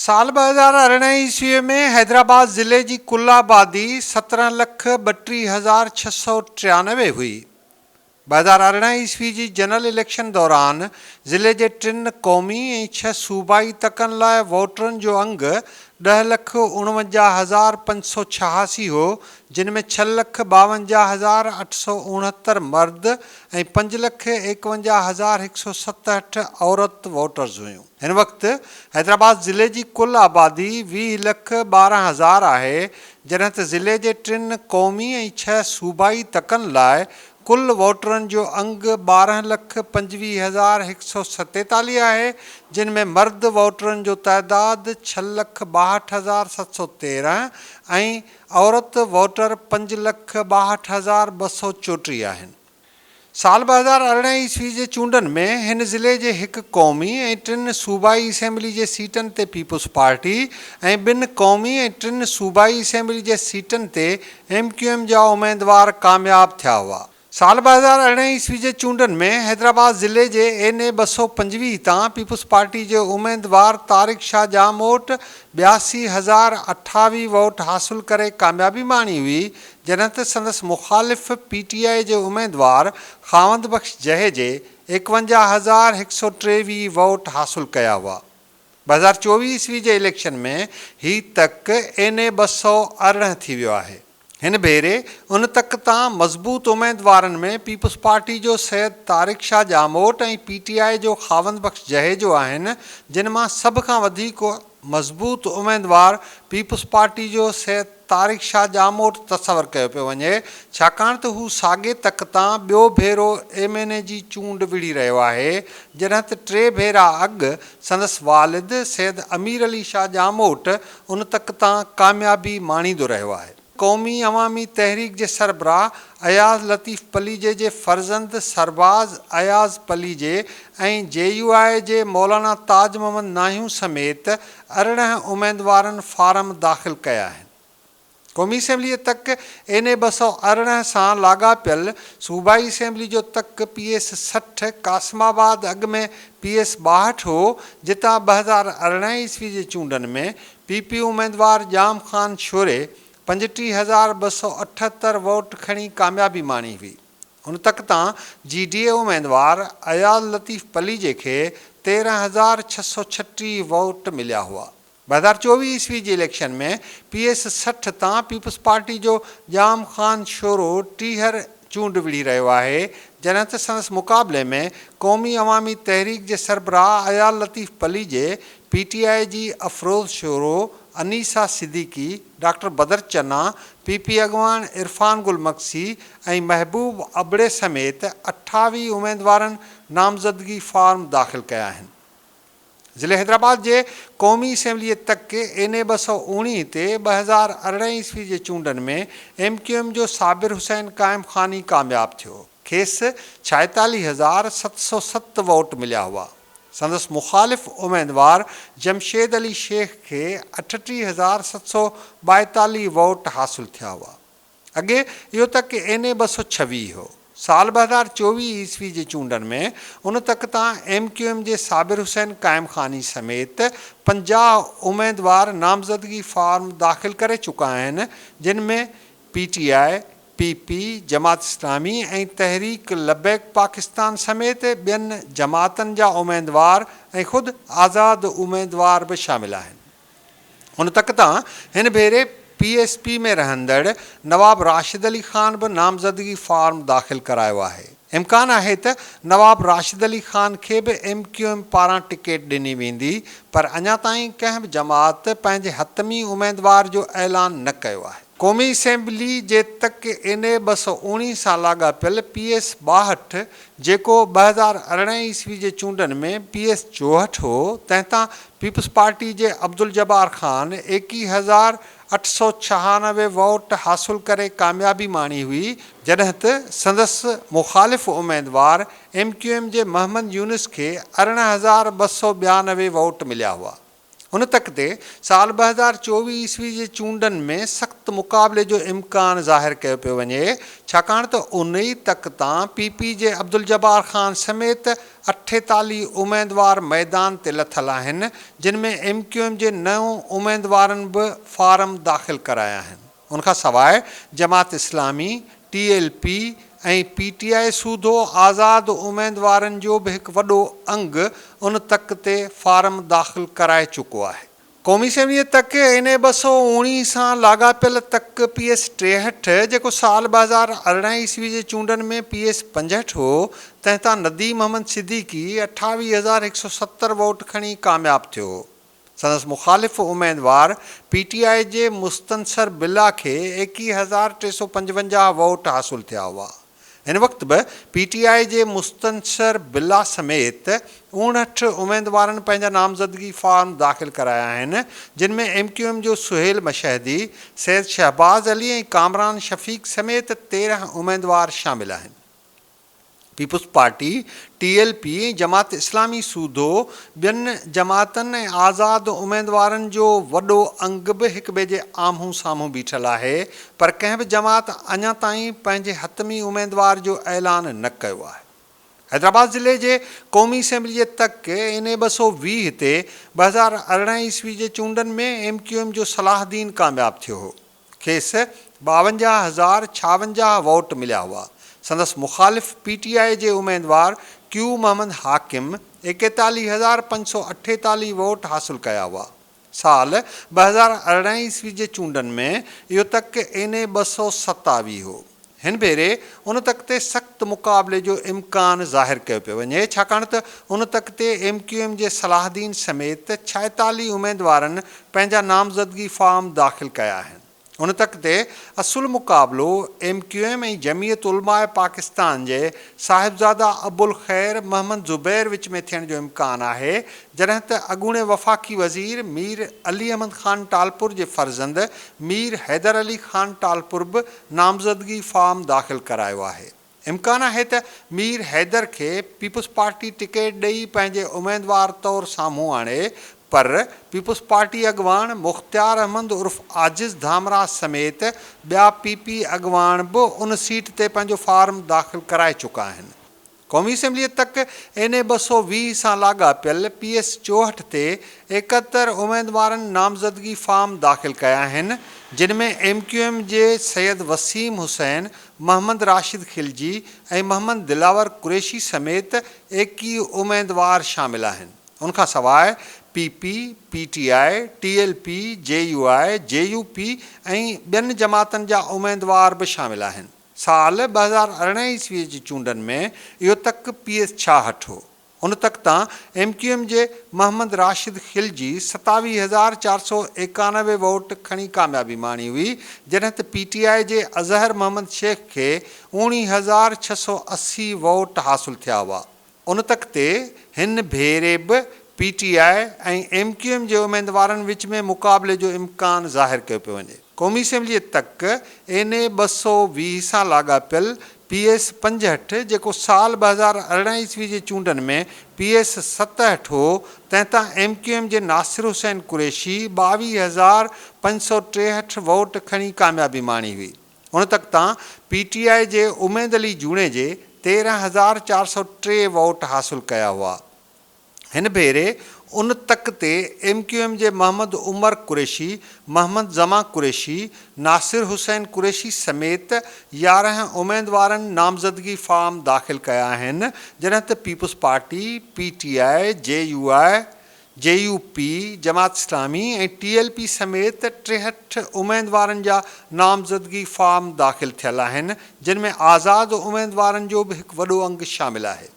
سال ٻه هزار ارڙهن عيسويء ۾ حيدرآباد ضلعي جي ڪل آبادي سترهن لک ٻٽيهه هزار ڇهه سؤ ٽيانوي هئي. ٻه هزار ارڙهن عيسوي جي جنرل اليڪشن دوران ضلعي جي ٽن قومي ۽ ڇهه صوبائي تڪن لاء ووٽرن جو انگ ڏهه لک اڻونجاهه هزار پنج سؤ ڇهاسي هو جن ۾ ڇهه لک ٻاونجاهه هزار اٺ سؤ اڻهتر مرد ۽ پنج لک ايڪونجاهه هزار هڪ سؤ ستهٺ عورت ووٽرز هيون. هن وقت حيدرآباد ضلعي جي ڪل آبادي ويهه لک ٻارهن هزار آهي، جڏهن ته ضلعي جي ٽن قومي ۽ ڇهه صوبائي تڪن لاء ڪل ووٽرن جو انگ ٻارهن لک پنجويهه هزار هڪ سؤ ستيتاليهه آهي، جن ۾ مرد ووٽرن جو تعداد ڇهه لک ٻاهٺ هزار ست سؤ تيرهن ۽ عورت ووٽر پنج لک ٻاهٺ هزار ٻه سؤ چوٽيهه آهن. سال ٻه هزار ارڙهن عيسوي جي چونڊن ۾ هن ضلعي جي هڪ قومي ۽ ٽن صوبائي اسيمبلي جي سيٽن تي پيپلز پارٽي ۽ ٻن قومي ۽ ٽن صوبائي اسيمبلي جي سيٽن تي ايم ڪيو ايم جا اميدوار ڪامياب ٿيا هئا. سال ٻه هزار ارڙهن عيسوي جي چونڊن ۾ حيدرآباد ضلعي جي اين اي ٻه سؤ پنجويهه تان پيپلز پارٽي جي اميدوار طارق شاهه ڄاموٽ ٻياسي هزار اٺاويهه ووٽ حاصل ڪري ڪاميابي ماڻي هئي جڏهن ته سندس مخالف پي ٽي آء جي اميدوار خاوند بخش جهيجي ايڪونجاهه هزار هڪ سؤ ٽيويهه ووٽ حاصل ڪيا هئا. ٻه هزار چوويهه عيسوي جي اليڪشن ۾ هي تڪ اين اي ٻه سؤ ارڙهن ٿي ويو آهي. هن ڀيري ان تڪ تان مضبوط اميدوارن ۾ پيپلز پارٽي جو Syed Tariq Shah Jamot ۽ P T I جو خاوند بخش جهيجو آهن جن مان سڀ کان وڌيڪ مضبوط اميدوار پيپلز پارٽي جو سيد طارق شاهه ڄاموٽ تصور ڪيو پيو وڃي، ڇاڪاڻ ته هو ساڳي تڪ تان ٻيو ڀيرو ايم اين اي جي چونڊ وڙهي رهيو آهي، جڏهن ته ٽي ڀيرا اڳ سندس والد سيد امير علي شاهه ڄاموٽ ان تڪ تان ڪاميابي ماڻيندو رهيو آهي. قومي عوامي تحريڪ جي سربراهه اياز لطيف پليجي جي فرزند سرباز اياز پليجي ۽ جي يو آء جي مولانا تاج محمد ناهيون سميت ارڙهن اميدوارن فارم داخل ڪيا آهن قومي اسيمبلي تڪ اين اي ٻه سؤ ارڙهن سان لاڳاپيل صوبائي اسيمبلي جو تڪ پي ايس سٺ قاسم آباد اڳ ۾ پي ايس ٻاهٺ هو جتان ٻه هزار ارڙهن عيسوي جي چونڊن ۾ پي پي اميدوار ڄام خان شوري پنجٽيهه هزار ٻه سؤ اٺهتر ووٽ کڻي ڪاميابي ماڻي هئي. ان تڪ تان جي ڊي اي اميدوار اياز لطيف پليجي کي تيرهن هزار ڇهه سؤ ڇٽيهه ووٽ مليا هئا. ٻه هزار چوويهه عيسوي جي اليڪشن ۾ پي ايس سٺ تان پيپلز پارٽي جو ڄام خان شورو ٽيهر چونڊ وڙهي رهيو آهي، جڏهن ته سندس مقابلي ۾ قومي عوامي تحريڪ جي سربراهه عيال Latif Palijo, P T I جي Afroz Shoro, Anisa Siddiqui, doctor Badar Channa, P P اڳواڻ عرفان گل مگسي ۽ محبوب ابڙي سميت اٺاويهه اميدوارن نامزدگي فارم داخل ڪيا آهن. ضلعي حيدرآباد جي قومي اسيمبليء تڪ اين اي ٻه سؤ اوڻيهه تي ٻه هزار ارڙهن عيسوي جي چونڊن ۾ ايم ڪيو ايم جو صابر حسين قائم خان ئي ڪامياب ٿيو. کيس ڇائيتاليهه هزار ست سؤ ست ووٽ مليا هئا. سندس مخالف اميدوار جمشيد علي شيخ کي اٺٽيهه هزار ست سؤ ٻائيتاليهه ووٽ حاصل ٿيا هئا. اڳي اهو تڪ اين اي ٻه سؤ ڇويهه هو. سال ٻه هزار چوويهه عيسوي جي چونڊن ۾ ان تڪ تان ايم ڪيو ايم جي صابر حسين قائم خاني سميت پنجاهه اميدوار نامزدگي فارم داخل ڪري چڪا آهن جن ۾ P T I, P P, Jamaat Islami ۽ Tehreek Labbaik Pakistan سميت ٻين جماعتن جا اميدوار ۽ خود آزاد اميدوار به شامل آهن. ان تڪ تان هن ڀيري پي ايس پي ۾ رهندڙ نواب راشد علي خان به نامزدگي فارم داخل ڪرايو آهي، امڪان آهي ته نواب راشد علي خان کي به ايم ڪيو ايم پاران ٽڪيٽ ڏني ويندي پر اڃا تائين ڪنهن به جماعت پنهنجي حتمي اميدوار جو اعلان نه ڪيو آهي. قومي اسيمبلي جي تڪ اين اي ٻه سؤ اوڻيهه سان لاڳاپيل پي ايس ٻاهٺ جيڪو ٻه هزار ارڙهن عيسوي جي چونڊن ۾ پي ايس چوهٺ هو تنهن تان پيپلز پارٽي جي عبدالجبار خان ايڪيهه هزار اٺ سؤ ڇهانوي ووٽ حاصل ڪري ڪاميابي ماڻي هئي جڏهن ته سندس مخالف اميدوار ايم ڪيو ايم جي محمد يونس کي ارڙهن هزار ٻه سؤ ٻيانوي ووٽ مليا هئا. هن تڪ تي سال ٻه هزار چوويهه عيسوي جي چونڊن ۾ سخت مقابلي جو امڪان ظاهر ڪيو پيو وڃي ڇاڪاڻ ته انهي تڪ تان پي پي جي عبدالجبار خان سميت اٺيتاليهه اميدوار ميدان تي لٿل آهن جن ۾ ايم ڪيو ايم جي نو اميدوارن به فارم داخل ڪرايا آهن. ان کان سواء Jamaat Islami, T L P ۽ P T I سوڌو آزاد اميدوارن جو به هڪ وڏو انگ ان تڪ تي فارم داخل ڪرائي چڪو آهي. قومي اسيمبليء تڪ اين اي ٻه سؤ اوڻيهه سان لاڳاپيل تڪ پي ايس ٽيهٺ جيڪو سال ٻه هزار ارڙهن عيسوي جي چونڊن ۾ پي ايس پنجهٺ هو تنهن تان نديم محمد صديقي اٺاويهه هزار هڪ سؤ ستر ووٽ کڻي ڪامياب ٿيو هو. سندس مخالف اميدوار پي ٽي آء جي مستنصر بالله کي ايڪيهه هزار ٽي سؤ پنجونجاهه ووٽ حاصل ٿيا هئا. هن وقت به پي ٽي آء جي مستنصر بالله سميت اڻهٺ اميدوارن پنهنجا نامزدگي فارم داخل ڪرايا آهن جن ۾ ايم ڪيو ايم جو سهيل مشهدي، سيد شهباز علي ۽ ڪامران شفيق سميت تيرهن اميدوار شامل آهن. Peoples Party, T L P ۽ Jamaat Islami سوڌو ٻين جماعتن ۽ آزاد اميدوارن جو وڏو انگ به هڪٻئي جي آمهون سامهون بيٺل آهي پر ڪنهن به جماعت اڃا تائين پنهنجي حتمي اميدوار جو اعلان نه ڪيو آهي. حيدرآباد ضلعي جي قومي اسيمبلي جي تڪ اين اي ٻه سؤ ويهه تي ٻه هزار ارڙهن عيسوي جي چونڊن ۾ ايم ڪيو ايم جو صلاح الدين ڪامياب ٿيو هو. کيس ٻاونجاهه هزار ڇاونجاهه ووٽ مليا هئا. سندس مخالف پي ٽي آء جي اميدوار ڪيو محمد حاڪم ايڪيتاليهه هزار پنج سؤ اٺيتاليهه ووٽ حاصل ڪيا هئا. سال ٻه هزار ارڙهن عيسوي جي چونڊن ۾ اهو تڪ اين اي ٻه سؤ ستاويهه هو. هن ڀيري ان تڪ تي سخت مقابلي جو امڪان ظاهر ڪيو پيو وڃي ڇاڪاڻ ته ان تڪ تي ايم ڪيو ايم جي صلاحدين سميت ڇائيتاليهه اميدوارن پنهنجا نامزدگي فارم داخل ڪيا آهن ان تڪ تي اصل مقابلو M Q M ۽ Jamiat Ulema Pakistan جي صاحبزاده ابوالخير محمد زبير وچ ۾ ٿيڻ جو امڪان آهي جڏهن ته اڳوڻي وفاقي وزير مير علي احمد خان ٽالپر جي فرزند مير حيدر علي خان ٽالپر به نامزدگي فارم داخل ڪرايو آهي، امڪان آهي ته مير حيدر کي پيپلزپارٽي ٽڪيٽ ڏئي پنهنجي اميدوار طور سامهون آڻي پر پيپلزپارٽي اڳواڻ مختيار احمد عرف عاجز ڌامراء سميت ٻيا پي پي اڳواڻ به ان سيٽ تي پنهنجو فارم داخل ڪرائي چڪا آهن. قومي اسيمبليء تڪ اين اي ٻه سؤ ويهه سان لاڳاپيل پي ايس چوهٺ تي ايڪهتر اميدوارن نامزدگي فارم داخل ڪيا آهن، جن ۾ ايم ڪيو ايم جي سيد وسيم حسين، محمد راشد خلجي ۽ محمد دلاور قريشي سميت ايڪيهه اميدوار شامل آهن. ان کان سواء P P, P T I, T L P, J U I, J U P ۽ ٻين جماعتن جا اميدوار به شامل آهن. سال ٻه هزار ارڙهن عيسويء جي چونڊن ۾ اهو تڪ پي ايس ڇاهٺ هو. ان تڪ تان ايم ڪيو ايم جي محمد راشد خلجي ستاويهه هزار چار سؤ ايڪانوي ووٽ کڻي ڪاميابي ماڻي هئي، جڏهن ته پي ٽي آء جي اظهر محمد شيخ کي اوڻيهه هزار ڇهه سؤ اسي ووٽ حاصل ٿيا هئا. ان تڪ تي هن ڀيري به P T I ۽ M Q M جي اميدوارن وچ ۾ مقابلي جو امڪان ظاهر ڪيو پيو وڃي. قومي اسيمبليء تڪ اين اي ٻه سؤ ويهه سان لاڳاپيل پي ايس پنجهٺ جيڪو سال ٻه هزار ارڙهن عيسوي جي چونڊن ۾ پي ايس ستهٺ هو تنهن تان ايم ڪيو ايم جي ناصر حسين قريشي ٻاويهه هزار پنج سؤ ٽيهٺ ووٽ کڻي ڪاميابي ماڻي هئي. هن تڪ تان پي ٽي آء جي اميد علي جوڻيجي تيرهن هزار چار سؤ ٽي ووٽ حاصل ڪيا هئا. هن ڀيري ان تڪ تي ايم ڪيو ايم جي محمد عمر قريشي، محمد زمان قريشي، ناصر حسين قريشي سميت يارهن اميدوارن نامزدگي فارم داخل ڪيا آهن جڏهن ته Peoples Party, P T I, J U I, J U P, Jamaat Islami ۽ T L P سميت ٽيهٺ اميدوارن جا نامزدگي فارم داخل ٿيل آهن، جن ۾ آزاد اميدوارن جو به هڪ وڏو انگ شامل آهي.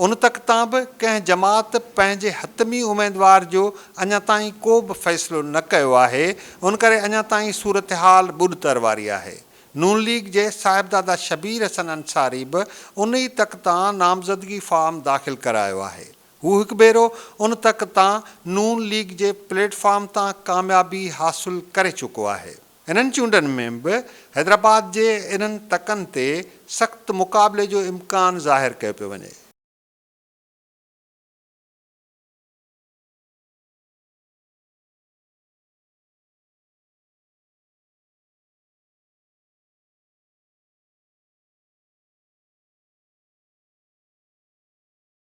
ان تڪ تان به ڪنهن جماعت پنهنجي حتمي اميدوار جو اڃا تائين ڪو به فيصلو نه ڪيو آهي، ان ڪري اڃا تائين صورتحال ٻڏ تر واري آهي. نون ليگ جي صاحبزاده شبير حسن انصاري به ان ئي تڪ تان نامزدگي فارم داخل ڪرايو آهي. هو هڪ ڀيرو ان تڪ تان ن ليگ جي پليٽ فارم تان ڪاميابي حاصل ڪري چڪو آهي. انهن چونڊن ۾ به حيدرآباد جي انهن تڪن تي سخت مقابلي جو امڪان ظاهر ڪيو پيو وڃي.